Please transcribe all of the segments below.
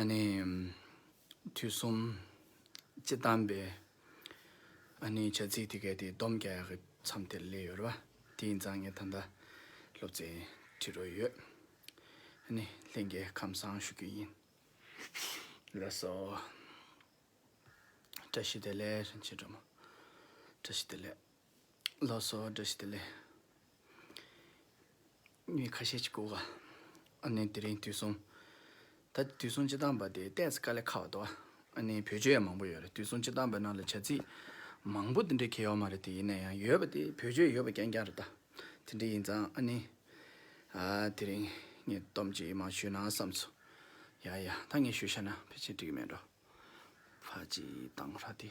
ཨ་ནི། དུས་གསུམ། ཅེས་གདམས་པའི། ཨ་ནི་བྱ་ཚིག་དེ་གའི་དེ་བསྡོམས་བརྒྱ་ཡ་གི་མཚམས་དེར་སླེབས་ཡོད་རེད་པ། དེའི་མཛངས་ངས་ད་ལྟ་སློབ་ཚན་ཁྲིད་རོགས་ཡོད། ཨ་ནི། ལྷན་རྒྱས་ཁམས་བཟང་ཞུ་རྒྱུ་ཡིན། ལགས་སོ། བཀྲ་ཤིས་བདེ་ལེགས་བྱེད་འདྲ་མོ། བཀྲ་ཤིས་བདེ་ལེགས། ལོ་སོ་བ་འདྲ་ཞིག་དེ་ལས་མི་ཁ་ཤས་ཀྱིས་བསྐུར་བ། ཨ་ནི་དེ་རིང་དུས་གསུམ། ད་ལྟའི་དུས་གསུམ་སྤྱི་བཏང་པ་དེ་ལྟས་དཀའ་ལས་ཁག་བ་འདུག་ཨ་ནི་བོད་ཆོས་ཡང་མང་པོ་ཡོད་རེད་དུས་གསུམ་སྤྱི་བཏང་པའི་ནང་ལ་བྱ་ཚིག་མང་པོ་དེ་འདྲའི་གལ་ཡོད་མ་རེད་དེ་ཡིན་ན་ཡང་ཡོད་པ་དེ་བོད་ཆོས་ཡོད་པ་རྐྱང་རྐྱང་རེད་ད། དེ་འདྲ་ཡིན་ཙང་ཨ་ནི། ཨ་དེ་རིང་ངས་སྡོམ་གཅིག་མ་ཞུས་ན་བསམས་སོང། ཡ་ཡ་ད་ངས་ཞུས་ཤ་ན་ཕལ་ཆེར་འགྲིག་གི་མེད་འགྲོ། ཕ་ཅིའི་བཏང་ར་དེ།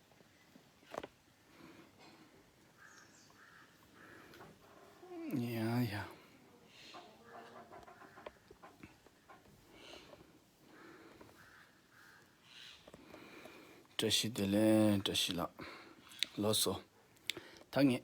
བཀྲ་ཤིས་བདེ་ལེགས་བཀྲ་ཤིས་ལགས། ལོ་སོ། ད་ངས།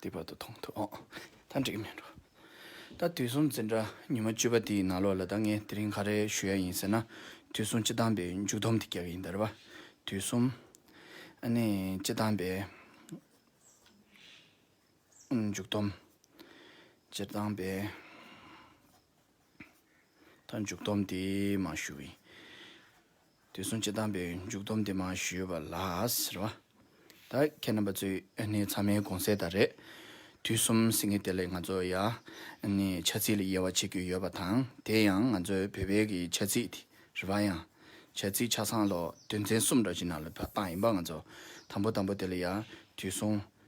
དེ་བར་དུ་མཐོང་ཐུབ་ཨོ། ད་འགྲིག་མེད་འགྲོ། ད་དུས་གསུམ་འཛིན་གྲྭ་ཉི་མ་བཅུ་པ་དེའི་ནང་ལོགས་ལ་ད་ངས་དེ་རིང་ག་རེ་ཞུ་ཡ་ཡིན་ཟེར་ན། དུས་གསུམ་སྤྱི་བཏང་པའི་མཇུག་སྡོམ་དེ་རྒྱག་གི་ཡིན་ད་རེད་བ། དུས་གསུམ། ཨ་ནི། སྤྱི་བཏང་པའི། མཇུག་སྡོམ། སྤྱི་བཏང་པའི། ད་མཇུག་སྡོམ་དེ་མ་ཞུ། དུས་གསུམ་སྤྱི་དང་པོའི་མཇུག་སྡོམ་འདི་མ་ཞུས་པ་ལགས། རེད་བ། ད་ཁྱེད་རྣམ་པ་ཚོའི་ནི་ཚང་མའི་དགོངས་སེལ་དག་རེད། དུས་གསུམ་ཟེར་ངེས་དེ་ལས་ང་ཚོ་ཡ། ནི་ཆ་ཚིག་ལ་དབྱེ་བ་ཕྱེ་རྒྱུ་ཡོད་པ་དང་དེ་ཡང་ང་ཚོའི་བོད་པའི་གི་ཆ་ཚིག་དེ་རེད་བ་ཡང། ཆ་ཚིག་ཆ་ཚང་ལོ་དོན་ཚན་གསུམ་འདྲ་ཞིག་ནང་ལ་བ་ཏང་ཡིན་པ་ང་ཚོ་དང་པོ་དང་པོ་དེ་ལ་ཡ། དུས་གསུམ།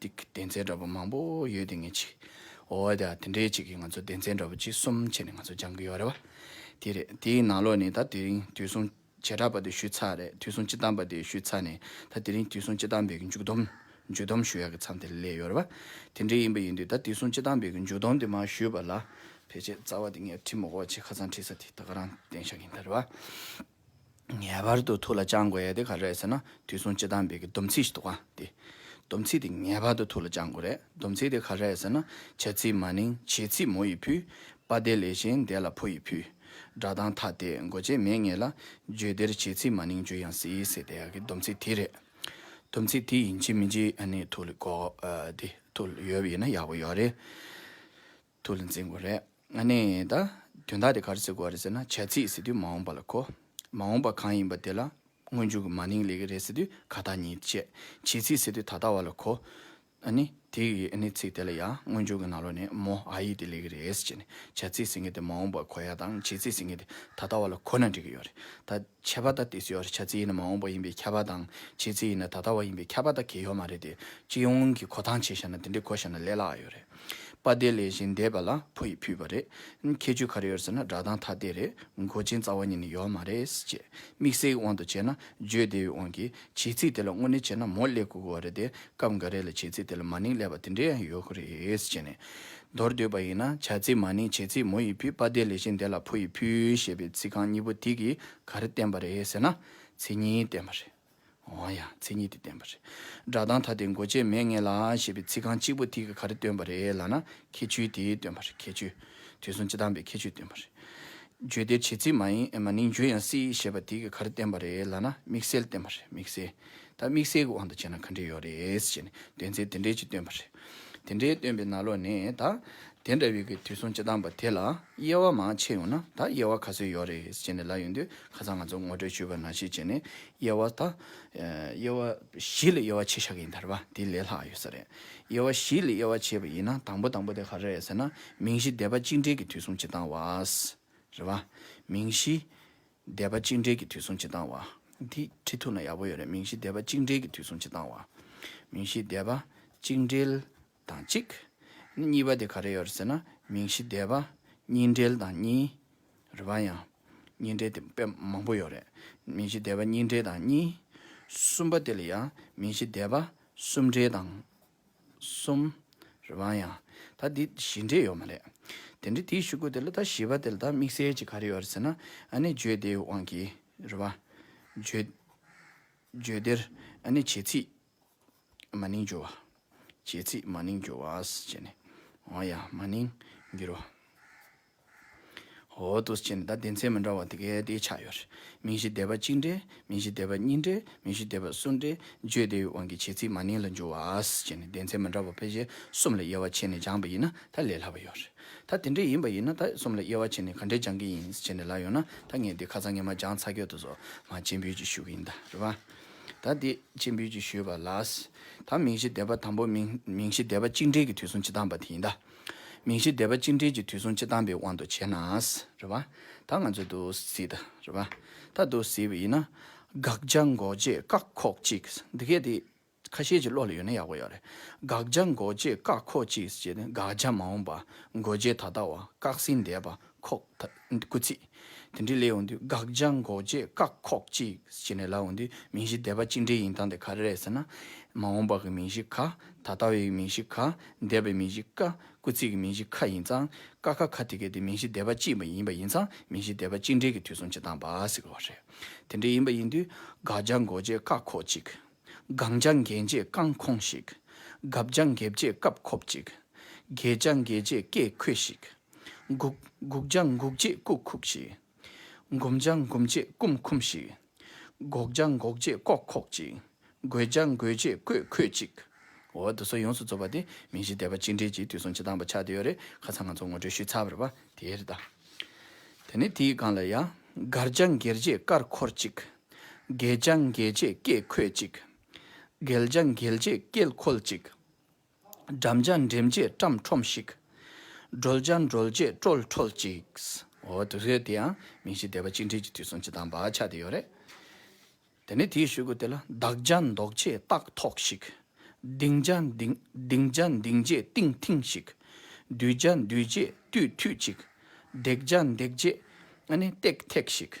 འདི་སྡེ་ཚན་འདྲ་པོ་མང་པོ་ཡོད་དེ་ངས་ཅིག་འོ་ད་དེ་འདྲའི་ཅིག་གིས་ང་ཚོ་སྡེ་ཚན་འདྲ་པོ་གཅིག་གསུམ་བྱས་ནས་ང་ཚོ་སྦྱང་གི་ཡོད་རེད་བ། དེ་རེད་དེའི་ནང་ལོགས་ནས་ད་དེ་རིང་དུས་གསུང་བྱེ་བྲག་པ་དེ་ཞུས་ཚར་རེད་དུས་གསུང་སྤྱི་གཏམ་པ་དེ་ཞུས་ཚར་ནས་ད་དེ་རིང་དུས་གསུང་སྤྱི་གཏམ་པའི་གི་མཇུག་སྡོམ་མཇུག་སྡོམ་ཞུ་ཡག་གི་མཚམས་དེ་སླེབས་ཡོད་རེད་བ། དེ་འདྲའི་ཡིན་པ་ཡིན་དུས་ད་དུས་གསུང་སྤྱི་གཏམ་པའི་གི་མཇུག་སྡོམ་དེ་མ་ཞུས་པ་ལ་ཕལ་ཆེར་རྩ་བ་དེ་ངས་བྲིས་མ་གོ་བ་ཆེས་ཁ་ཚང་བྲིས་ས་དེ་ད་ག་རང་བསྟན་བཞག་ཡིན་ད་རེད་བ། ངེས་པར་དུ་ཐུགས་ལ་བཅང་དགོས་ཡས་དེ་ག་རེད་ཟེར་ན་དུས་གསུམ་སྤྱི་དང་བེ་གི་སྡོམ་ཚིག་ཞིག་འདུག་ག་དེ། སྡོམ་ཚིག་དེ་ངེས་པར་དུ་ཐུགས་ལ་བཅང་དགོས་རེད་སྡོམ་ཚིག་དེ་ག་རེད་ཟེར་ན་བྱ་ཚིག་མ་ནིང་བྱེད་ཚིག་མོ་ཡི་ཕུལ། པ་དེ་ལས་གཞན་འདས་ལ་ཕོ་ཡི་ཕུལ། སྒྲ་གདངས་ཐ་དད་མགོ་བྱེད་མེད་ངེས་ལ། བརྗོད་བདེར་བྱེད་ཚིག་མ་ནིང་བརྗོད་ཡང་སྲིད་ཟེར་དེ་ག་གི་སྡོམ་ཚིག་དེ་རེད། སྡོམ་ཚིག་དེ་ཡིན་གཅིག་མིན་གཅིག་ཨ་ནི་ཐུགས་ལ་གོ། དེ་ཐུགས་ལ་ཡོད་པ་ཡིན་ན་ཡག་པོ་ཡོད་རེད། ཐུགས་ལ་འཛིན་དགོས་རེད། ཨ་ནེ། ད་དོན་དག་དེ་གར་བརྩི་དགོས་རེད་ཟེར་ན་བྱ་ཚིག་ཟེར་དུས་མ་འོངས་པ་ལ་གོ། མ་འོངས་པ་གང་ཡིན་པ་དེ་ལ་སྔོན་བྱུང་གི་མ་ནིང་ལས་ཀྱི་རེད་ཟེར་དུས་ག་ད་ཉིད་བཅས། བྱེད་ཚིག་ཟེར་དུས་ད་ལྟ་བ་ལ་གོ། ཨ་ནེ། དེ་ཡི་ཨ་ནེ་ཚིག་དེ་ལ་ཡང་སྔོན་བྱུང་གི་ནང་ལོགས་ནས་མོ་ཨ་ཡིག་དེ་ལས་ཀྱི་རེད་ཟེར་ནས་བྱ་ཚིག་ཟེར་མཁན་དེ་མ་འོངས་པ་གོ་ཡ་དང་བྱེད་ཚིག་ཟེར་མཁན་དེ་ད་ལྟ་བ་ལ་གོ་ན་འགྲིག་གི་ཡོད་རེད། ད་ཁྱད་པར་ད་དེ་ཟེར་བ་བྱ་ཚིག་ཡིན་ན་མ་འོངས་པ་ཡིན་པའི་ཁྱད་པར་དང་བྱེད་ཚིག་ཡིན་ན་ད་ལྟ་བ་ཡིན་པའི་ཁྱད་པར་ད་གེ་ཡོད་མ་རེད་དེ། སྤྱི་ཡོངས་ཀྱི་གོ་སྟངས་བྱས་བཞག་ན་དེ་འདྲའི་གོ་བཞག་ན་ལས་སླ་ཡོད་རེད། པ་བདེ་ལེགས་བཞིན་འདས་པ་ལ་ཕོ་ཡིས་ཕུལ་བ་རེད། ཁྱེད་ཆོས་ག་རེ་ཡོད་ཟེར་ན་སྒྲ་གདངས་ཐ་དད་རེད་མགོ་ཅན་རྩ་བ་ཉིད་ནས་ཡོད་མ་རེད་ཅེས། དམིགས་བསལ་གྱི་དབང་དུ་བྱས་ན་བརྗོད་བདེ་བའི་དབང་གིས་བྱེད་ཚིག་དེ་ལ་དངོས་གནས་བྱས་ན་མོ་ཀླད་གོ་གོ་བ་རེད་དེ་སྐབས་འགའ་རེ་ལ་བྱེད་ཚིག་དེ་ལ་མ་ནིང་ཀླད་པ་དེ་འདྲའི་ཡང་ཡོད་ཁོ་རེད་ཅེས་ནས། མདོར་བསྡུས་པ་ཡིན་ན་བྱ་ཚིག་མ་ནིང་བྱེད་ཚིག་མོ་ཡིས་ཕུལ་པ་བདེ་ལེགས་བཞིན་འདས་ལ་ཕོ་ཡིས་ཕུལ་ཞེས་པའི་ཚིག་རྐང་གཉིས་པོ་དེ་གིས་ག་རེ་བསྟན་པ་རེད་ཟེར་ན་ཚིག་གཉིས་བསྟན་པ་རེད། འོང་ཡང་མཚན་ཉིད་དེ་བསྟན་པ་རེད། སྒྲ་གདངས་ཐ་དད་མགོ་ཅན་མས་ངེས་ལ་ཞེས་པའི་ཚིག་རྐང་གཅིག་པོ་དེ་གིས་ག་རེ་སྟོན་པ་རེད་ལ་ན་ཁྱད་ཆོས་དེ་སྟོན་པ་རེད་ཁྱད་ཆོས། དུས་གསུམ་སྤྱི་དང་པའི་ཁྱད་ཆོས་སྟོན་པ་རེད། བརྗོད་བདེར་བྱེད་ཚིག་མ་ཡིན་མ་ནིང་བརྗོད་ཡང་སྲིད་ཞེས་པ་དེ་གིས་ག་རེ་བསྟན་པ་རེད་ལ་ན་དམིགས་བསལ་བསྟན་པ་རེད་དམིགས་བསལ། ད་དམིགས་བསལ་གྱི་དབང་དུ་བྱས་ན་ག་འདྲས་ཡོད་རེད་ཅེས་ནས་དོན་ཚན་དེ་འདྲས་ཅིག་སྟོན་པ་རེད། དེ་འདྲས་སྟོན་པའི་ན་ལོག་ནས་ད་དེ་འདྲ་བའི་གི་དུས་གསུམ་སྤྱི་དང་པ་དེ་ལ་དབྱེ་བ་མང་ཆེ་ཡོང་ན་ད་དབྱེ་བ་ག་ཚོད་ཡོད་རེད་ཅེས་ནས་ལབ་ཡོང་དུས་ཁ་སང་ང་ཚོ་ངོ་སྤྲོད་ཞུས་པ་ན་གཞིས་བྱེས་ནས་དབྱེ་བ་དང། དབྱེ་བ་བཞི་ལ་དབྱེ་བ་ཕྱེ་ཤག་ཡིན་དར་བ་དེ་ལས་ལྷག་ཡོད་ས་རེད། དབྱེ་བ་བཞི་ལ་དབྱེ་བ་ཕྱེ་བ་ཡིན་ན་དང་པོ་དང་པོ་དེ་ག་རེ་རེད་ཟེར་ན་མིང་གཞི་སྡེ་པ་གཅིག་འབྲེལ་གྱི་དུས་གསུང་སྤྱི་བཏང་བ། རེད་བ། མིང་གཞི་སྡེ་པ་གཅིག་འབྲེལ་གྱི་དུས་གསུང་སྤྱི་བཏང་བ། འདི་ཁྲིད་ཐུབ་ན་ཡག་པོ་ཡོད་རེད་མིང་གཞི་སྡེ་པ་གཅིག་འབྲེལ་གྱི་དུས་གསུང་སྤྱི་བཏང་བ། མིང་གཞི་སྡེ་པ་གཅིག་འབྲེལ་དང་གཅིག། གཉིས་པ་དེ་ག་རེ་ཡོད་རེད་ཟེར་ན་མིང་གཞི་བདེ་བ། གཉིས་འབྲེལ་དང་གཉིས། རེད་བ་ཡང། གཉིས་འབྲེལ་དེ་དཔེ་མང་པོ་ཡོད་རེད། མིང་གཞི་བདེ་བ་གཉིས་འབྲེལ་དང་གཉིས། གསུམ་པ་དེ་ལ་ཡང་མིང་གཞི་བདེ་བ་གསུམ་འབྲེལ་དང། གསུམ། རེད་བ་ཡང། ད་འདི་བཞི་འབྲེལ་ཡོད་མ་རེད། དེ་འདྲའི་དེའི་ཞུ་སྐུལ་དེ་ལ་ད་བཞི་པ་དེ་ལ་ད་དམིགས་བསལ་གྱི་ག་རེ་ཡོད་རེད་ཟེར་ན་ཨ་ནི་བརྗོད་བདེའི་དབང་གིས་རེད་བ། བརྗོད། བརྗོད་བདེར་ཨ་ནི་བྱེད་ཚིག་མ་ནིང་འགྱུར་བ། བྱེད་ཚིག་མ་ནིང་འགྱུར་བ། ཅེས་ནི། འོ་ཡ། མ་ནིང། འགྱུར་བ། འོ་ཏོ། ཅེས་ནི་ད་སྡེ་ཚན་མི་འདྲ་བ་དེ་གའི་དེའི་ཆ་ཡོད། མིང་གཞི་སྡེ་པ་གཅིག་འདྲེས་མིང་གཞི་སྡེ་པ་གཉིས་འདྲེས་མིང་གཞི་སྡེ་པ་གསུམ་འདྲེས་བརྗོད་བདེ་བའི་དབང་གིས་བྱེད་ཚིག་མ་ནིང་ལ་འགྱུར་བ། ཅེས་ནི་སྡེ་ཚན་མི་འདྲ་བ་ཕལ་ཆེར་གསུམ་ལ་དབྱེ་བ་ཕྱེ་ནས་སྦྱངས་པ་ཡིན་ན་ད་ལས་སླ་བ་ཡོད། ད་དེ་འདྲ་ཡིན་པ་ཡིན་ན་ད་གསུམ་ལ་དབྱེ་བ་ཕྱེ་ནས་ག་འདྲས་སྦྱངས་ཀྱི་ཡིན་ཅེས་ནི་ལ་ཡོད་ན་ད་ངས་དེ་ཁ་ཚང་ངས་མ་སྦྱངས་ཚ་ཁྱོད་དུ་སོ་མ་བྱེད་འབུལ་གྱི་ཞུ་གི་ཡིན་ད་རེད་བ། ད་དེ་ཕྱིར་འབུལ་གྱིས་ཞུས་པ་ལ། ད་མིང་གཞི་འདེབས་པ་དང་པོ་མིང་གཞི་འདེབས་པ་གཅིག་འབྲེལ་གྱི་དུས་སུ་ཅི་བཏང་བ་དེ་ཡིན་ད། མིང་གཞི་འདེབས་པ་གཅིག་འབྲེལ་གྱི་དུས་སུ་ཅི་བཏང་པའི་དབང་དུ་བྱས་ན། རེད་བ། ད་ང་ཚོས་ཏུ་བཟི་ད། རེད་བ། ད་ཏུ་བཟི་བ་ཡིན་ན། དགག་བྱ་འགོག་བྱེད་བཀག་ཁོག་གཅིག་འདི་སྐད་དེ། ཁ་ཤས་ཀྱི་བློ་ལ་ཡོད་ན་ཡག་པོ་ཡོད་རེད། དགག་བྱ་འགོག་བྱེད་བཀག་ཁོག་གཅིག་ཅེས་ན་དགག་བྱ་མ་འོངས་པ་འགོག་བྱེད་ད་ལྟ་བ་བཀག་ཟིན་འདས་པ་ཁོག་ད་སྐུ་ཚིག། དེ་འདྲའི་ལས་འོང་དུས་དགག་བྱ་འགོག་རྗེས་བཀག་ཁོག་ཅིག་ཅེས་ནས་ལ་འོང་དུས་མིང་གཞི་བཟླས་པ་གཅིག་འདྲའི་ཡིན་སྟངས་དེ་ག་རེ་རེད་ཟེར་ན། མ་འོངས་པ་གི་མིང་གཞི་ག། ད་ལྟ་བའི་མིང་གཞི་ག། འདས་པའི་མིང་གཞི་ཀ། སྐུ་ཚིག་གི་མིང་གཞི་ཁ་ཡིན་ཙང། ཀ་ཁ་ཁ་དེ་གའི་དེ་མིང་གཞི་བཟླས་པ་གཅིག་མ་ཡིན་པ་ཡིན་ཙང་མིང་གཞི་བཟླས་པ་གཅིག་འདྲའི་གི་དུས་སོང་བྱེད་སྟངས་བ་ཟེར་དགོས་བ་རེད། དེ་འདྲའི་ཡིན་པ་ཡིན་དུས་དགག་བྱ་འགོག་རྗེས་བཀག་ཁོག་ཅིག། སྒང་ལྗང་འགྱེལ་རྗེས་རྐང་འཁོངས་ཤིག། སྒབ་ལྗང་འགེབས་རྗེས་སྐབས་འཁོབ་ཅིག། སྒེག་ལྗང་འགེལ་རྗེས་སྐད་འཁོད་ཤིག། སྒུག། སྒུག་ལྗང་འགུགས་རྗེས་སྐུག་འཁུགས་ཤིག། འགུམ་ལྗང་འགུམས་རྗེས་སྐུམ་འཁུམས་ཤིག། སྒོག་ལྗང་འགོག་རྗེས་ལྐོག་འཁོག་ཅིག། རྒོད་ལྗང་རྒོད་རྗེས་རྐོས་འཁོད་ཅིག། འོ་དོ་སོ་ཡོངས་སུ་རྫོགས་པ་དེ་མིང་གཞི་བཟླས་པ་གཅིག་འགྲིལ་གྱིས་དུས་གསུམ་སྤྱི་དང་བ་ཆགས་དེ་ཡོད་རེད་ཁ་ཚང་ང་ཚོ་ངོ་སྤྲོད་ཞུས་ཚར་བར་བ་དེ་རེད་ད། དེ་ནས་དེའི་སྒང་ལ་ཡ། སྒར་ལྗང་འགྱེལ་རྗེས་སྐར་འཁོར་ཅིག། རྒྱལ་བྱ་འགྱེལ་བྱེད་བཀས་འཁོད་ཅིག། འགེལ་བྱ་འགེལ་བྱེད་བཀལ་འཁོལ་ཅིག། འགྲམ་བྱ་འགྲིམ་བྱེད་བཀྲམ་ཁྲོམ་ཞིག། འགྲོལ་བྱ་འགྲོལ་བྱེད་བཀྲོལ་འཁྲོལ་ཅིག། འོ་དེ་རེད་དེ་ཡང་མིང་གཞི་སྡེ་པ་གཅིག་འབྲེལ་གྱི་དུས་སུ་འཆི་དང་བག་ཆགས་དེ་ཡོད་རེད། དེ་ནས་དེའི་ཤུལ་གུ་དེ་ལ་བདག་བྱ་འདོགས་བྱེད་རྟགས་ཐོགས་ཤིག། ལྡིང་བྱ་ལྡིང་བྱ་འདིང་བྱེད་བཏིང་ཐིང་ཞིག། འདུས་བྱ་འདུས་བྱེད་བཏུས་ཐུས་ཅིག། འདེགས་བྱ་འདེགས་བྱེད་ཨ་ནི་བཏེག་ཐེག་ཞིག།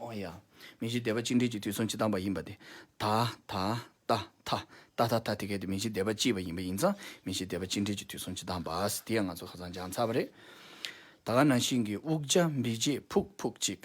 ཨོ་ཡ། མི་གཞི་སྡེ་པ་གཅིག་འབྲེལ་གྱི་དུས་མཚུངས་ཇི་ལྟ་བ་ཡིན་པ་དེ། ད། ད། ཏ། ཐ། ཏ་ཐ་ཐ་དེ་གལ་ཏེ་མི་གཞི་སྡེ་པ་གཅིག་པ་ཡིན་པ་ཡིན་ཙང་མི་གཞི་སྡེ་པ་གཅིག་འབྲེལ་གྱི་དུས་མཚུངས་ཇི་ལྟ་བ། དེ་ཡང་ང་ཚོ་ཁ་ཚང་སྦྱང་ཚར་བ་རེད། ད་ག་ན་ཤིང་གི་དབུགས་འཇའ་འབིགས་རྗེས་ཕུག་ཕུག་ཅིག།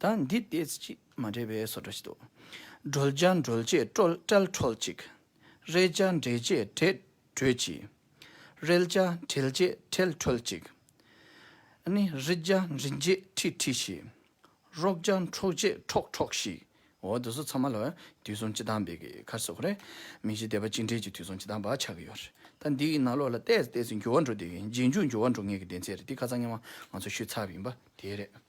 ད་འདི་ལྟས་ཅི་མ་འདྲེས་པའི་སོ་སྒྲོ་ཞིག་འདུག། སྒྲོལ་བྱ་འགྲོལ་བྱེད་ཀྲོལ་ཀྲལ་ཁྲོལ་ཅིག། རེད་བྱ་འདྲེད་བྱེད་བྲེད་བྲོལ་ཅིག། རེལ་བྱ་བྲེལ་བྱེད་བྲེལ་བྲོལ་ཅིག། ནི་རི་བྱ་འབྲི་བྱེད་ཁྲི་ཁྲི་ཞིག། རོག་བྱ་འཕྲོག་བྱེད་འཕྲོག་འཕྲོག་ཞིག། འོ་དོ་སོ་ཚང་མ་ལ་དུས་བཟང་སྤྱི་དང་བེ་གི་ཁར་སོགས་རེད། མི་གཞི་སྡེ་པ་གཅིག་འདྲེས་ཀྱི་དུས་བཟང་སྤྱི་དང་བ་ཆགས་ཀྱི་ཡོད་རེད། ད་འདི་ཡི་ནང་ལོགས་ལ་ལྟས་ལྟས་ཚེ་འགྱུར་བ་འགྲོ་འདོད་ཀྱི་རྗེས་འཇུག་འགྱུར་བ་འགྲོ་ངེས་ཀྱི་ལྡན་ཚད་རེད་དེ་ཁ་ཚ་ངན་བ་ང་ཚོ་ཤུལ་ཚབ་ཡིན་པ་དེ་རེད།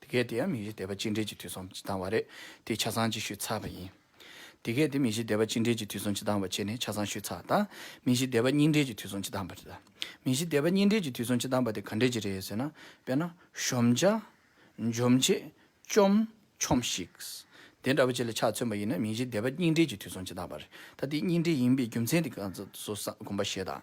དེ་གལ་ཏེ་ཡང་མིག་ཤེས་དད་པ་གཅིག་འབྲེལ་གྱི་དུས་སོང་ཇི་ལྡང་བ་རེད་དེ་ཆ་ཚང་ཅིག་ཤོས་ཚགས་པ་ཡིན། དེ་གལ་ཏེ་མིག་ཤེས་དད་པ་གཅིག་འབྲེལ་གྱི་དུས་སོང་ཇི་ལྡང་བ་བྱས་ནས་ཆ་ཚང་ཤོས་ཚགས་དང། མིག་ཤེས་དད་པ་གཉིས་འབྲེལ་གྱི་དུས་སོང་ཇི་ལྡང་བ་རེད། མིག་ཤེས་དད་པ་གཉིས་འབྲེལ་གྱི་དུས་སོང་ཇི་ལྡང་བ་དེ་ག་འདྲེས་ཀྱི་རེད་ཟེར་ན། དཔེར་ན། གཞོམ་བྱ། འཇོམས་བྱེད། བཅོམ། ཆོམས་ཤིག། དེ་འདྲ་བ་བཅས་ལ་ཆ་མཚོན་པ་ཡིན་ན་མིག་ཤེས་དད་པ་གཉིས་འབྲེལ་གྱི་དུས་སོང་ཇི་ལྡང་བ་རེད། ད་དེ་གཉིས་འབྲེལ་ཡིན་པའི་རྒྱུ་མཚན་དེ་ག་ཚོད་བསམ་གོམས་པ་བྱེད་དང།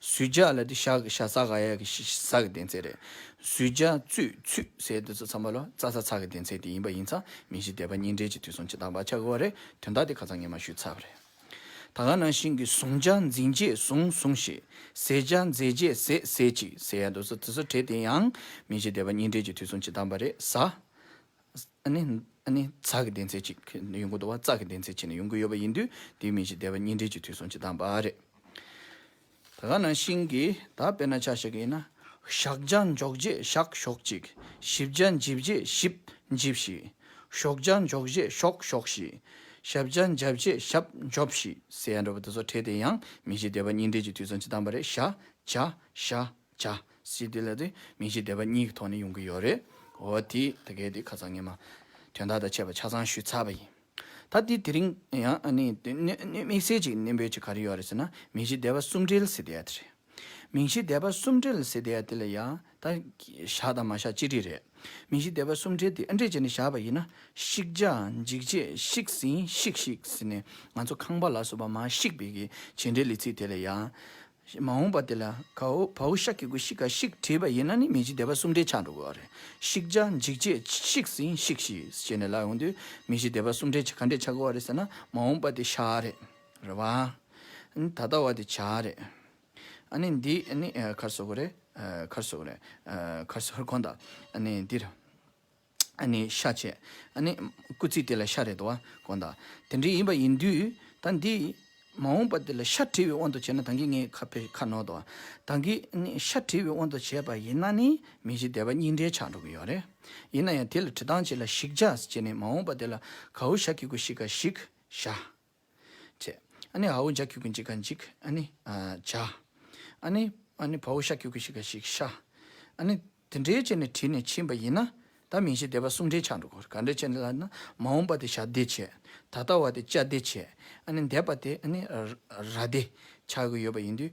གཟུད་བྱ་ལ་དེ་ཤག་གི་ཤ་ཚ་ག་ཡག་གི་ཤི་ཤི་ཚག་གི་དེ་ཚད་རེད། གཟུད་བྱ་བཙུད་ཚུད་ཟེར་དུས་ཚོད་ཚང་མ་ལོ་ཙཱ་ཚ་ཚག་གི་དེ་ཚད་དེ་ཡིན་པ་ཡིན་ཙང་མི་གཞི་སྡེ་པ་གཉིས་འབྲེལ་གྱི་དུས་སོང་ཇི་ལྟར་བག་ཆགས་དགོས་བ་རེད་དོན་དག་དེ་ག་ཚང་ངས་མ་ཞུས་ཚར་བ་རེད། ད་ག་ནང་བཞིན་གྱི་བཟུང་བྱ་འཛིན་རྗེས་བཟུང་བཟུང་ཞིག་ཟེད་བྱ་འཛེད་རྗེས་ཟེད་ཟེད་ཅིག་ཟེར་ཡ་འདུག་ཚོད་དེ་ཚོད་དེ་དེ་ཡང་མི་གཞི་སྡེ་པ་གཉིས་འབྲེལ་གྱི་དུས་སོང་ཇི་ལྟར་བ་རེད་ཟ། ཛྷ་གི་གདན་ཚད་ཅིག་ཡོང་གི་འདུག་བ་ཙྪ་གི་གདན་ཚད་ཅིག་ནས་ཡོང་གི་ཡོད་པ་ཡིན་དུས་དེའི་མིང་གཞི་སྡེ་བ་གཉིས་འབྲེལ་གྱི་དུས་སོང་ཇི་ལྟར་འབའ་རེད། ད་ག་ན་ཤིང་གི་ད་དཔེར་ན་ཆ་ཞིག་གི་ཡིན་ན། ཞག་བརྒྱ་འཇོག་རྗེས་ཞག་ཞོག་ཅིག་བཞི་བརྒྱ་འཇིབ་རྗེས་ཞིབ་འཇིབ་ཞིག། ཞོག་བརྒྱ་འཇོག་རྗེས་ཞོག་ཞོག་ཞིག། ཞབས་བརྒྱ་འཇབ་རྗེས་ཞབས་འཇོབ་ཞིག་ཟེར་ཡ་འགྲོ་བ་འདི་ཚོ་ཕྲད་དེ་ཡང་མིང་གཞི་སྡེ་བ་གཉིས་འབྲེལ་གྱི་དུས་སོང་ཇི་ལྟར་འབའ་རེད་ཤ། བྱ། ཤ། བྱ། སྲིད་དེ་ལ་དེ་མིང་གཞི་བདེ་བ་གཉིས་ཀྱི་ཐོག་ནས་ཡོང་གི་ཡོད་རེད། འོ་དེ་ད་གས་དེ་ཁ་ཚང་ངེད་མ། དོན་དག་དང་ཆད་པ་ཆ་ཚང་ཞུས་ཚར་བ་ཡིན། ད་དེ་དེ་རིང་ཡང་ནི་དམིགས་བསལ་ཅིག་ནན་པོའི་ཆེད་ག་རེ་ཡོད་རེད་ཟེར་ན་མིང་གཞི་བདེ་བ་གསུམ་སྦྲེལ་སྲིད་དེ་ཡ་དེ་རེད། མིང་གཞི་བདེ་བ་གསུམ་སྦྲེལ་སྲིད་དེ་ཡ་དེ་ལ་ཡང་ད་བཞག་དང་མ་བཞག་གཅིག་འདྲིས་རེད། མིང་གཞི་བདེ་བ་གསུམ་སྦྲེལ་དེ་ཨ་འདྲིས་བྱས་ནས་བཞག་པ་ཡིན་ན་བཤིག་བྱ་འཇིག་བྱེད་བཤིག་ཟིན་བཤིག་བཤིག་ཟིན་ནས་ང་ཚོ་ཁང་པ་ལ་སོགས་པ་མ་བཤིག་པའི་གི་བྱེད་འདྲེ་ལི་ཚིག་དེ་ལ་ཡང། ཞེས་མ་འོངས་པ་དེ་ལ་བའུ་ཤ་ཀི་གུ་ཤི་ཀ་ཤིག་བྲིས་པ་ཡིན་ན་ནི་མི་འཇིགས་བདེ་བ་གསུམ་བྲེལ་ཆགས་འགྲོ་དགོས་བ་རེད། ཤིག་བྱ་འཇིག་བྱེད་ཤིག་ཟིན་ཤིག་ཤིས་བྱེད་ནས་ལ་ཡོང་དུས་མི་འཇིགས་བདེ་བ་གསུམ་བྲེལ་ག་འདྲས་ཆགས་དགོས་བ་རེད་ཟེར་ན་མ་འོངས་པ་དེ་ཤ་རེད་རེད་བ། ད་ལྟ་བ་དེ་བྱ་རེད། ཨ་ནི་འདི་ནི་ཁར་སོ་གོ་རེད། ཁར་སོ་གོ་རེད། ཁར་སོ་གོ་དང་ཨ་ནི་འདིར། ཤ་བཅད། སྐུ་ཚིགས་དེ་ལ་ཤ་རེ་དོ་བ་གོ། དེ་འདྲའི་ཡིན་པ་ཡིན་དུས་ད་འདི། མ་འོངས་པ་འདི་ལ་ཤ་བྲི་བའི་དབང་དུ་བྱས་ན་ད་གིན་ངའི་ཁ་ཕེ་ཁ་ནོར་དོ། ད་གིན་ཤ་བྲི་བའི་དབང་དུ་བྱས་པ་ཡིན་ན་ནི་མི་གཞི་བདེ་བ་སྙིང་འདྲེས་ཆགས་འགྲོ་གི་ཡོད་རེད། ཡིན་ན་ཡང་དེ་ལ་བྲི་སྟངས་ཅི་ལ་ཞིག་བྱ་ཞེས་ནས་མ་འོངས་པ་དེ་ལ་གའུ་ཤ་གི་གུ་ཤི་ཀ་ཞིག་བྱ། བྱས། ཨ་ནི་ཨའུ་འཇག་ཁྱུག་གི་འཇིག་ག་འཇིག། ཨ་ནི། བྱ། ཨ་ནི། ཨ་ནི་བའུ་ཤ་ཁྱུག་གི་ཤི་ག་ཤིག་ཤ། ཨ་ནི། དེ་འདྲའི་བྱས་ནས་བྲིས་ནས་ཕྱིན་པ་ཡིན་ན། ད་མིང་གཞི་སྡེ་པ་གསུམ་འདྲེས་ཆགས་འགྲོ་དགོས། ག་འདྲའི་བྱས་ནས་ལབ་ན། མ་འོངས་པ་དེ་ཤ་སྡེ་བྱས། ད་ལྟ་བ་དེ་བྱ་སྡེ་བྱས། ཨ་ནི་འདས་པ་དེ་ཨ་ནི། ར་སྡེ། ཆགས་ཀྱི་ཡོད་པ་ཡིན་དུས།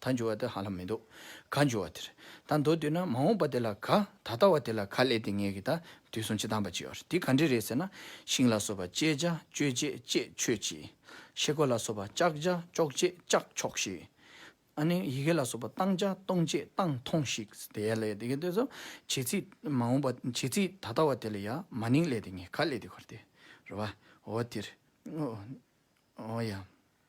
ད་འགྱུར་བ་དེ་ཧ་ལམ་མི་འདུག་ག་འགྱུར་བ་དེར་ད་འདུག་དུས་ན་མ་འོངས་པ་དེ་ལ་ག་ད་ལྟ་བ་དེ་ལ་ག་སླེབས་ཏེ་ངེད་ཀྱི་ད་དུས་སུ་འཆི་སྟངས་པ་ཅི་ཡོད་དེ་ག་འདྲི་རེད་ཟེར་ན་ཤིང་ལ་སོགས་པ་བཅད་བྱ་གཅོད་བྱེད་བཅད་ཆོད་ཅིག། ཤེལ་སྒོ་ལ་སོགས་པ་བཅག་བྱ་གཅོག་བྱེད་བཅག་ཆོག་ཤིག། ཨ་ནི་ཡི་གེ་ལ་སོགས་པ་གཏང་བྱ་གཏོང་བྱེད་གཏང་ཐོང་ཤིག་དེ་ཡང་སླེབས་ཏེ་ངེད་དུས་སུ་བྱེད་ཚིག་མ་འོངས་པ་བྱེད་ཚིག་ད་ལྟ་བ་དེ་ལ་ཡང་མ་ནིང་སླེབས་ཏེ་ངེད་ག་སླེབས་ཏེ་གོ་རེད་རོ། འོ་དེར། འོ་ཡ།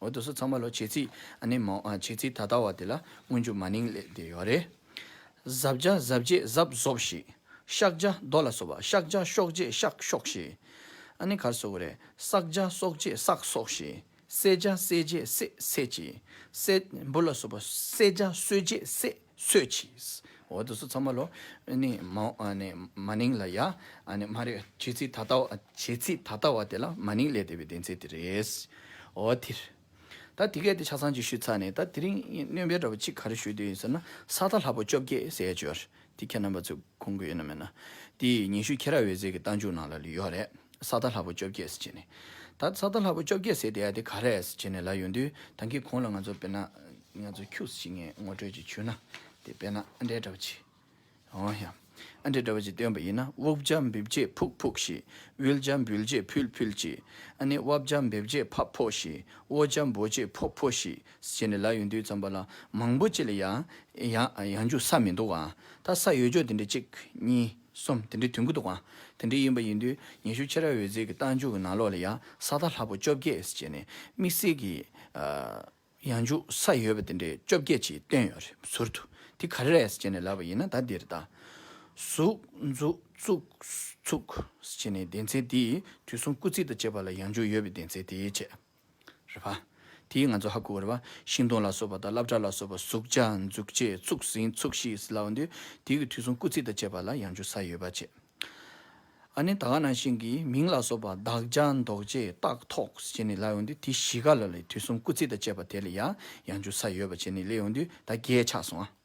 འོ་དོ་སོ་ཚང་མ་ལོ་བྱེད་རྩིས་ཨ་ནི་མོ་བྱེད་རྩིས་ད་ལྟ་བ་དེ་ལ་སྔོན་འཇུག་མ་ནིང་ལས་དེ་ཡོད་རེད། གཟབ་བྱ་གཟབ་རྗེས་གཟབ་གཟོབ་ཞིག། བཤག་བྱ་རྡོ་ལ་སོགས་པ་བཤག་བྱ་གཤོག་རྗེས་བཤག་གཤོག་ཞིག། ཨ་ནི་གར་སོགས་རེད། བསག་བྱ་བསོག་རྗེས་བསག་གསོག་ཞིག། བསད་བྱ་བསད་རྗེས་བསད་བསད་ཅིག། བསད་འབུ་ལ་སོགས་པ་བསད་བྱ་གསོད་རྗེས་བསད། གསོད་ཀྱིས། འོ་དོ་སོ་ཚང་མ་ལོ། ནི། མ། ནི། མ་ནིང་ལ་ཡ། ནི། མ་རེད། བྱེད་ཚིག་ད་ལྟ་བ། བྱེད་ཚིག་ད་ལྟ་བ་དེ་ལ་མ་ནིང་ལས་འདས་པའི་བདེན་ཚིག་དེ་རེད། འོ་དེར། ད་དེ་གལ་ཏེ་ཆ་ཚང་གཅིག་ཞུས་ཚར་ནས་ད་དེ་རིང་གནོན་པའི་འདྲ་པར་གཅིག་ག་རེ་ཞུ་འདོད་ཡིན་ཟེར་ན་ས་ལྷ་ལྷ་པོ་བཅོ་བརྒྱད་ཟས་སྦྱོར་དེ་ཁྱེད་རྣམ་པ་ཚོས་གོང་གི་ཡོད་ན་མེད་ན། དེ་ཡི་ཉི་ཤུ་ཁྱེད་ར་འོད་ཟེར་གྱི་རྟ་མཇུག་ནང་ལ་ལུས་ཡོག་རེད། ས་རྟ་ལྷ་བུ་བཅོ་བརྒྱད་ཟེར་བྱས་ནས། ད་ས་རྟ་ལྷ་བུ་བཅོ་བརྒྱད་ཟེར་བསྡད་ཡ་དེ་ག་རེད་ཟེར་བྱས་ནས་ལ་ཡོང་དུས་ད་ཁྱེད་གོང་ལ་ང་ཚོ་དཔེར་ན། ང་ཚོ་ཁྱུགས་ཟེར་བྱས་ངས་ངོ་སྤྲོད་ཅིག་བྱུས་ན། དེ་དཔེར་ན་ཨ་འདྲའི་འདྲ་བ་ཅིག། འོང་ཡ། ཨ་འདྲའི་འདྲ་བ་ཅིག་སྟོན་པ་ཡིན་ན་དབུགས་བརྒྱ་འབིབས་རྗེས་ཕུག་ཕུག་ཤིག། དབུལ་བརྒྱ་འབུལ་རྗེས་ཕུལ་ཕུལ་ཅིག། ཨ་ནི་དབབ་བརྒྱ་འབེབས་རྗེས་ཕབ་ཕོག་ཤིག། དབོ་བརྒྱ་འབོ་རྗེས་ཕོ་ཕོ་ཤིག། བྱས་ནས་ལ་ཡོང་དུས་ཙམ་པ་ལ་མང་པོ་བྱས་ལ་ཡང་འཇུག་ས་མི་འདུག་ཨང། ད་ས་ཡོད་ཆོག་དེ་འདྲའི་གཅིག་གཉིས་གསུམ་དེ་འདྲའི་དུས་འགོ་འདུག་ཨང། དེ་འདྲའི་ཡིན་པ་ཡིན་དུས་ཉི་ཤུ་ཕྱེད་ར་འོད་ཟེར་གྱི་རྟ་མཇུག་གི་ནང་ལོགས་ལ་ཡང་ས་ཐག་ལྷག་པོ་བཅོ་བརྒྱད་བྱས་ནས་དམིགས་བསལ་གྱི་ཡང་འཇུག་ས་ཡོད་པ་དེ་འདྲའི་བཅོ་བརྒྱད་ཅིག་བཏོན་ཡོད་རེད་ཟུར་དུ་དེ་ག་རེ་རེད་བྱས་ནས་ལབ་པ་ཡིན་ན་ད་འདིར་ད་ཟུག་འཛུག་ཚུགས་བྱས་ནས་སྡེ་ཚན་དེའི་དུས་གསུམ་སྐུ་ཚིགས་དང་བཅས་པ་ལ་ཡང་འཇུག་ཡོད་པའི་སྡེ་ཚན་དེའི་ཆེད། རེད་བ། དེས་ང་ཚོ་ཧ་གོ་བ་རེད་བ། ཤིང་སྡོང་ལ་སོགས་པ་དང་རླབས་སྒྲ་ལ་སོགས་པ་གཟུགས་བྱ་འཛུགས་བྱེད་ཚུགས་ཟིན་ཚུགས་ཤིག་སླ་བ་འདུག་དེ་གི་དུས་གསུང་སྐུ་ཚིག་དང་བཅས་པ་ལ་ཡང་འཇུག་ས་ཡོད་པ་བྱེད། ཨ་ནི་ད་ག་ནང་བཞིན་གི་མིང་ལ་སོགས་པ་བདག་བྱ་འདོགས་བྱེད་རྟགས་ཐོག་བྱས་ནས་ལ་ཡོང་དུས་དེ་གཞི་ག་ལ་ལའི་དུས་གསུང་སྐུ་ཚིག་དང་བཅས་པ་དེ་ལ་ཡང་ཡང་འཇུག་ས་ཡོད་པ་བྱས་ནས་ལས་ཡོང་དུས་ད་གས་ཆགས་སོང་ཨ།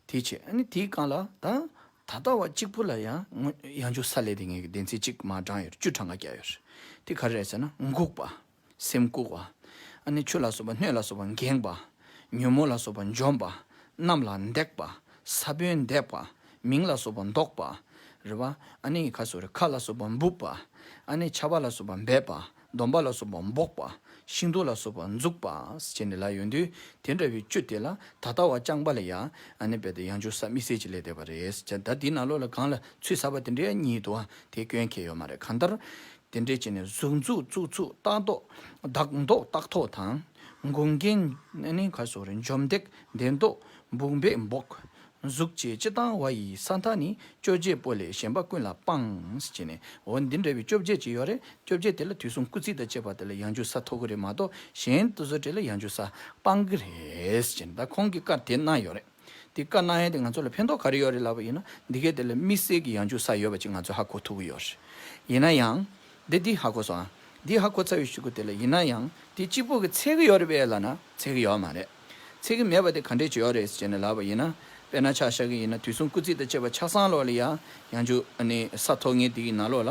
དེའི་ཕྱིར་ནི་དེའི་སྒང་ལ་དང། ད་ལྟ་བ་གཅིག་པུ་ལ་ཡང་ངོ། ཡང་འཇུག་ས་ལས་དེ་ངེས་ཀྱི་བདེན་ཚིག་གཅིག་མ་བགྲང་ཡོད་བཅུ་ཕྲག་ང་བརྒྱ་ཡོད། དེ་ག་རེད་ཟེར་ན་འགུགས་པ། སེམས་བཀུག་བ། ཆུ་ལ་སོགས་པ་སྣོད་ལ་སོགས་པ་འགེངས་པ། ཉོན་མོངས་ལ་སོགས་པ་འཇོམས་པ། རྣམས་ལ་འདེགས་པ། ས་བོན་འདེགས་པ། མིང་ལ་སོགས་པ་འདོགས་པ། རེད་བ། ཁ་ལ་སོགས་པ་འབུབས་པ། ཆ་བ་ལ་སོགས་པ་འབེབས་པ། སྡོམ་པ་ལ་སོགས་པ་འབོགས་པ། ཤིང་ཏོག་ལ་སོགས་པ་འཛུགས་པ། ཅེས་ནི་ལ་ཡོད་དུས་དེ་འདྲ་བའི་བཅུ་དེ་ལ་ད་ལྟ་བ་རྐྱང་པ་ལ་ཡ་ནི་བས་ཏེ་ཡང་ཅུང་ཟད་དམིགས་བསལ་གྱི་ལས་འདས་པ་རེད། ཅེས་ད་འདི་ན་ལོ་ལ་གང་ལ་ཚུལ་ཟབ་པ་དེ་འདྲའི་ཉིད་དུའང་དེ་སྐྱོན་ཁྱད་ཡོད་མ་རེད་གང་ལྟར། དེ་འདྲའི་ཅན་ནི་གཟུགས་འཛུགས་བཙུགས་ཚུགས་རྟགས་འདོགས་བདག་འདོགས་རྟགས་ཐོག་དང། འགུགས་འགེངས་ནི་གར་སོགས་རེད་འཇོམས་འདེགས་འདེགས་འདོགས་འབུགས་འབེགས་འབོགས། གཟུགས་ཀྱི་སྤྱི་དང་བ་ཡི་ས་མཐའ་ནི་བཅོ་བརྒྱད་པོ་ལས་གཞན་པ་ཀུན་ལ་སྤངས། ཅེས་ནས། འོ་འདི་འདྲ་བའི་བཅོ་བརྒྱད་ཅིག་ཡོད་རེད། བཅོ་བརྒྱད་དེ་ལ་དུས་གསུམ་སྐུ་ཚིགས་དང་བཅས་པ་དེ་ལ་ཡང་འཇུ་ས་ཐོབ་གི་རེད་མ་གཏོགས་གཞན་དུ་བཟོ་གྲས་ལ་ཡང་འཇུ་ས་སྤང་གི་རེད། ཅེས་ནས་ད་ཁོང་གིས་བཀར་དེ་གནང་ཡོད་རེད། དེ་བཀར་གནང་ཡས་དེ་ང་ཚོ་ལ་ཕན་ཐོགས་ག་རེ་ཡོད་རེད་ལབ་པ་ཡིན་ན་འདི་གས་དེ་ལ་དམིགས་བསལ་གྱི་ཡང་འཇུ་ས་ཡོད་པ་ཅིག་ང་ཚོས་ཧ་གོ་ཐུབ་གི་ཡོད་རེད། ཡིན་ན་ཡང། འདི་འདི་ཧ་གོ་སོང་ཨ། འདི་ཧ་གོ་ཚར་བའི་ཤུགས་ཀྱིས་དེ་ལ་ཡིན་ན་ཡང་དེ་གཅིག་པོ་གི་ཚད་གི་ཡོད་རེད་པས་ལ་ན་ཚད་གི་ཡོད་མ་རེད། ཚིག་གིས་སྨྲས་པ་དེ་ག་འདྲའི་བྱེད་ཡོག་རེད་ཟེར་ནས་ལབ་པ་ཡིན་ན། དཔེར་ན་ཆ་ཤ་གི་ཡིན་ན་དུས་གསུམ་སྐུ་ཚིག་དང་བཅས་པ་ཆ་སྲང་ལོག་ལ་ཡང་ཡང་འཇུག། ས་མཐོ་ངན་དེ་གི་ན་ལོག་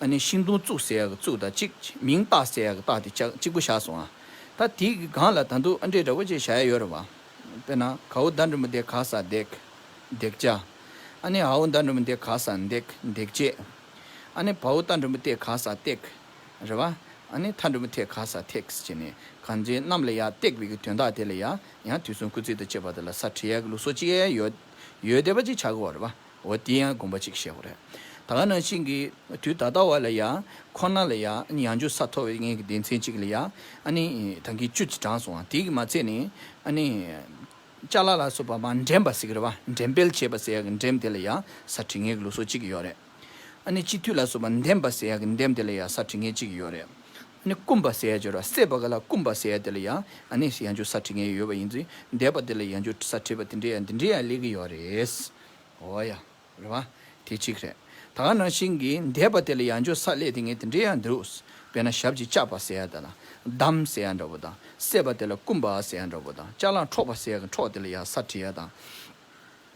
ལ། ཤིང་སྡོང་བཙུགས་ཟེར་ཡག་གི་བཙུགས་དང་གཅིག། མིང་བཏགས་ཟེར་ཡག་གི་བཏགས་དེ་གཅིག་པུ་བཞག་སོང་ཨ། ད་དེ་གི་སྒང་ལ་ད་འདུག་ཨ་འདྲའི་འདྲ་པོ་ཅིག་བཞག་ཡ་ཡོད་རེད་བ། དཔེར་ན་གའུ་མདའ་འགྲོན་པོ་འདེགས་ག་ས་འདེགས། འདེགས་བྱ། ཨ་ནི་ཧའུ་མདའ་འགྲོན་པོ་འདེགས་ག་ས་འདེགས། འདེགས་བྱེད། ཨ་ནི་བའུ་རྟ་འགྲོན་པོ་བཏེགས་ག་ས་བཏེགས། རེད་བ། ཨ་ནི་མཐའ་འབྲུ་མི་ཐེག་ག་ས་ཐེག་ཟེར་ནི་གང་ཚེ་གནམ་ལ་ཡར་བཏེགས་པའི་གི་དོན་དག་དེ་ལ་ཡང་ཡང་དུས་གསུམ་སྐུ་ཚེ་དང་བཅས་པ་དེ་ལ་ས་ཁྲི་ཡའི་གི་ལུགས་སོ་ཅི་ཡའི་ཡོད་ཡོད་བསྡད་པ་ཅིག་བྱ་གི་བ་རེད་བ། འོ་དེ་ཡང་དགོངས་པ་ཅིག་བཞེས་བ་རེད། ད་ག་ནང་བཞིན་གི་དུས་ད་ལྟ་བ་ལ་ཡང་ཁོ་ན་ལ་ཡང་ཡང་འཇུ་ས་མཐོ་བའི་ངའི་གི་སྡེ་ཚན་ཅིག་ལ་ཡང་ཨ་ནི་ད་གི་བཅུ་ཚེ་བགྲང་སོང་བ་དེ་གི་མ་ཚད་ནི་ཨ་ནི་ལྕགས་ལ་ལ་སོ་བ་མ་འགྲེམས་པ་ཟེར་གི་རེད་བ་འགྲེམས་སྤེལ་བྱས་པ་ཟེར་ཡ་གི་འགྲེམས་དེ་ལ་ཡང་ས་ཁྲི་ངའི་གི་ལུགས་སོ་ཅིག་གི་ཡོད་རེད། ཨ་ནི་སྤྱི་འཐུས་ལ་སོགས་པ་འདེམས་པ་ཟེར་ཡ་གི་འདེམས་དེ་ལ་ཡང་ས་ཁྲི་ངན་གཅིག་ཡོད་རེད། ཨ་ནི་རྐུན་པ་ཟེར་ཡ་འབྱོར་བ་སད་པ་ག་ལ་རྐུན་པ་ཟེར་ཡ་དེ་ལ་ཡང་ཨ་ནི་ཡང་འབྱོར་ས་ཁྲི་ངན་ཡོད་པ་ཡིན་ཚུལ་འདས་པ་དེ་ལ་ཡང་འབྱོར་ས་ཁྲི་བ་དེ་འདྲས་ཡ་འདི་འདྲས་ཡ་ལེགས་གི་ཡོད་རེད། འོ་ཡ། རེད་བ། དེ་གཅིག་རེད། ད་ག་ནང་བཞིན་གི་འདས་པ་དེ་ལ་ཡང་འབྱོར་ས་ལེགས་དེ་ངས་དེ་འདྲས་ཡ་འདུག་དཔེར་ན་ཞབས་ཀྱི་ལྕགས་པ་ཟེར་ཡ་དེ་ལ་བསྡམ་ཟེར་ཡ་འདྲ་བོ་དང་སད་པ་དེ་ལ་རྐུན་པ་ཟེར་ཡ་འདྲ་བོ་དང་ལྕགས་ལངས་འཕྲོག་པ་ཟེར་ཡ་གི་འཕྲོག་དེ་ལ་ཡང་ས་ཁྲི་ཡ་དང།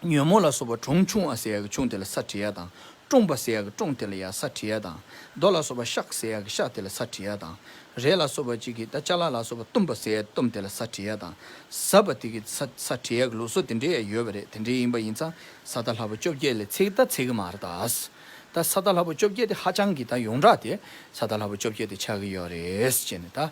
ཉོན་མོངས་ལ་སོགས་པ་གྲོང་ཆུང་བ་སའི་ཡཀ་ཆུང་དེ་ལ་ས་དྲི་ཡ་དང། ཀྲོང་པ་སའི་ཡཀ་ཀྲོང་དེ་ལ་ཡ་ས་དྲི་ཡ་དང། རྡོ་ལ་སོགས་པ་ཤཀ་སའི་ཡཀ་ཤ་དེ་ལ་ས་དྲི་ཡ་དང། རས་ལ་སོགས་པ་གཅིག་གིས་ད་ཅ་ལ་ལ་སོགས་པ་གཏུམ་པ་སའི་ཡཀ་གཏུམ་དེ་ལ་ས་དྲི་ཡ་དང། ཟབ་པ་དེ་གི་ས་ས་དྲི་ཡཀ་ལུགས་སོགས་དེ་འདྲའི་ཡ་ཡོད་པ་རེད་དེ་འདྲའི་ཡིན་པ་ཡིན་ཙང་ས་ད་ལྷ་བུ་བཅོ་བརྒྱད་ལས་ཚེ་གི་ད་ཚེ་གི་མར་ད་ཨཱས། ད་ས་ད་ལྷ་བུ་བཅོ་བརྒྱད་དེ་ཧ་ཅང་གི་ད་ཡོངས་གྲགས་དེ་ས་ད་ལྷ་བུ་བཅོ་བརྒྱད་དེ་ཆགས་ཀི་ཡོད་རེད་ཅེས་ནས་ད།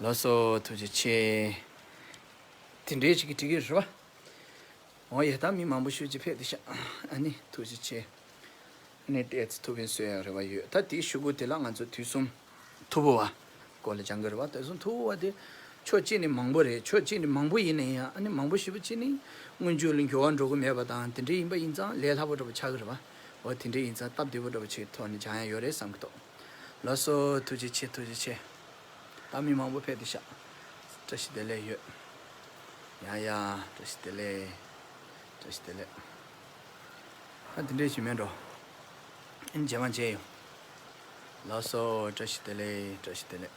ལ་སོ་ཐུགས་རྗེ་ཆེ། དེ་འདྲའི་ཞིག་གི་ཏྲི་གིར་ཧྲཱི་བ། འོ་ཡེ་ད་མི་མང་པོ་ཤུགས་ཀྱིས་ཕེབས་ཏེ་ཤག་ཨ་ནི་ཐུགས་རྗེ་ཆེ། ནི་ཏའི་ཚེ་ཐུབ་བོན་གསོལ་ཡག་རེ་བ་ཡོད་ད་དེའི་ཤུགས་ཀུ་དེ་ལ་ང་ཚོ་དུས་གསུམ་ཐུ་བོ་བ་ཀོ་ལ་ཅང་གི་རེ་བ་ད་གསུམ་ཐུ་བོ་བ་དེ་ཕྱོགས་གཅིག་ནི་མང་པོ་རེད་ཕྱོགས་གཅིག་ནི་མང་པོ་ཡིན་ན་ཡང་ཨ་ནི་མང་པོ་ཞེས་པ་གཅིག་ནི་སྔོན་ཇུས་ལ་འགྱུར་བ་འགྲོ་གི་མེད་པ་དང་དེ་འདྲའི་ཡིན་པ་ཡིན་ཙང་ལས་སླ་པོ་འདྲ་པོ་ཆགས་གི་རེ་བ་འོ་དེ་འདྲའི་ཡིན་ཙང་སྟབས་བདེ་པོ་འདྲ་པོ་ཆེད་ཐོག་ནས་ཅང་ཡང་ཡོད་རེད་བསམ་གི་འདུག། ལགས་སོ། ཐུགས་རྗེ་ཆེ་ཐུགས་རྗེ་ཆེ། ད་མི་མང་པོ་ཕེབས་ཏེ་ཤག། བཀྲ་ཤིས་བདེ་ལེགས་ཡོད། ཡ་ཡ། བཀྲ་ཤིས་བདེ་ལེགས། བཀྲ་ཤིས་བདེ་ལེགས། ད་འདི་འདྲས་ཞིག་མེད་འགྲོ། ཨིན་རྗེས་མ་མཇལ་ཡོང། ལགས་སོ། བཀྲ་ཤིས་བདེ་ལེགས་བཀྲ་ཤིས་བདེ་ལེགས།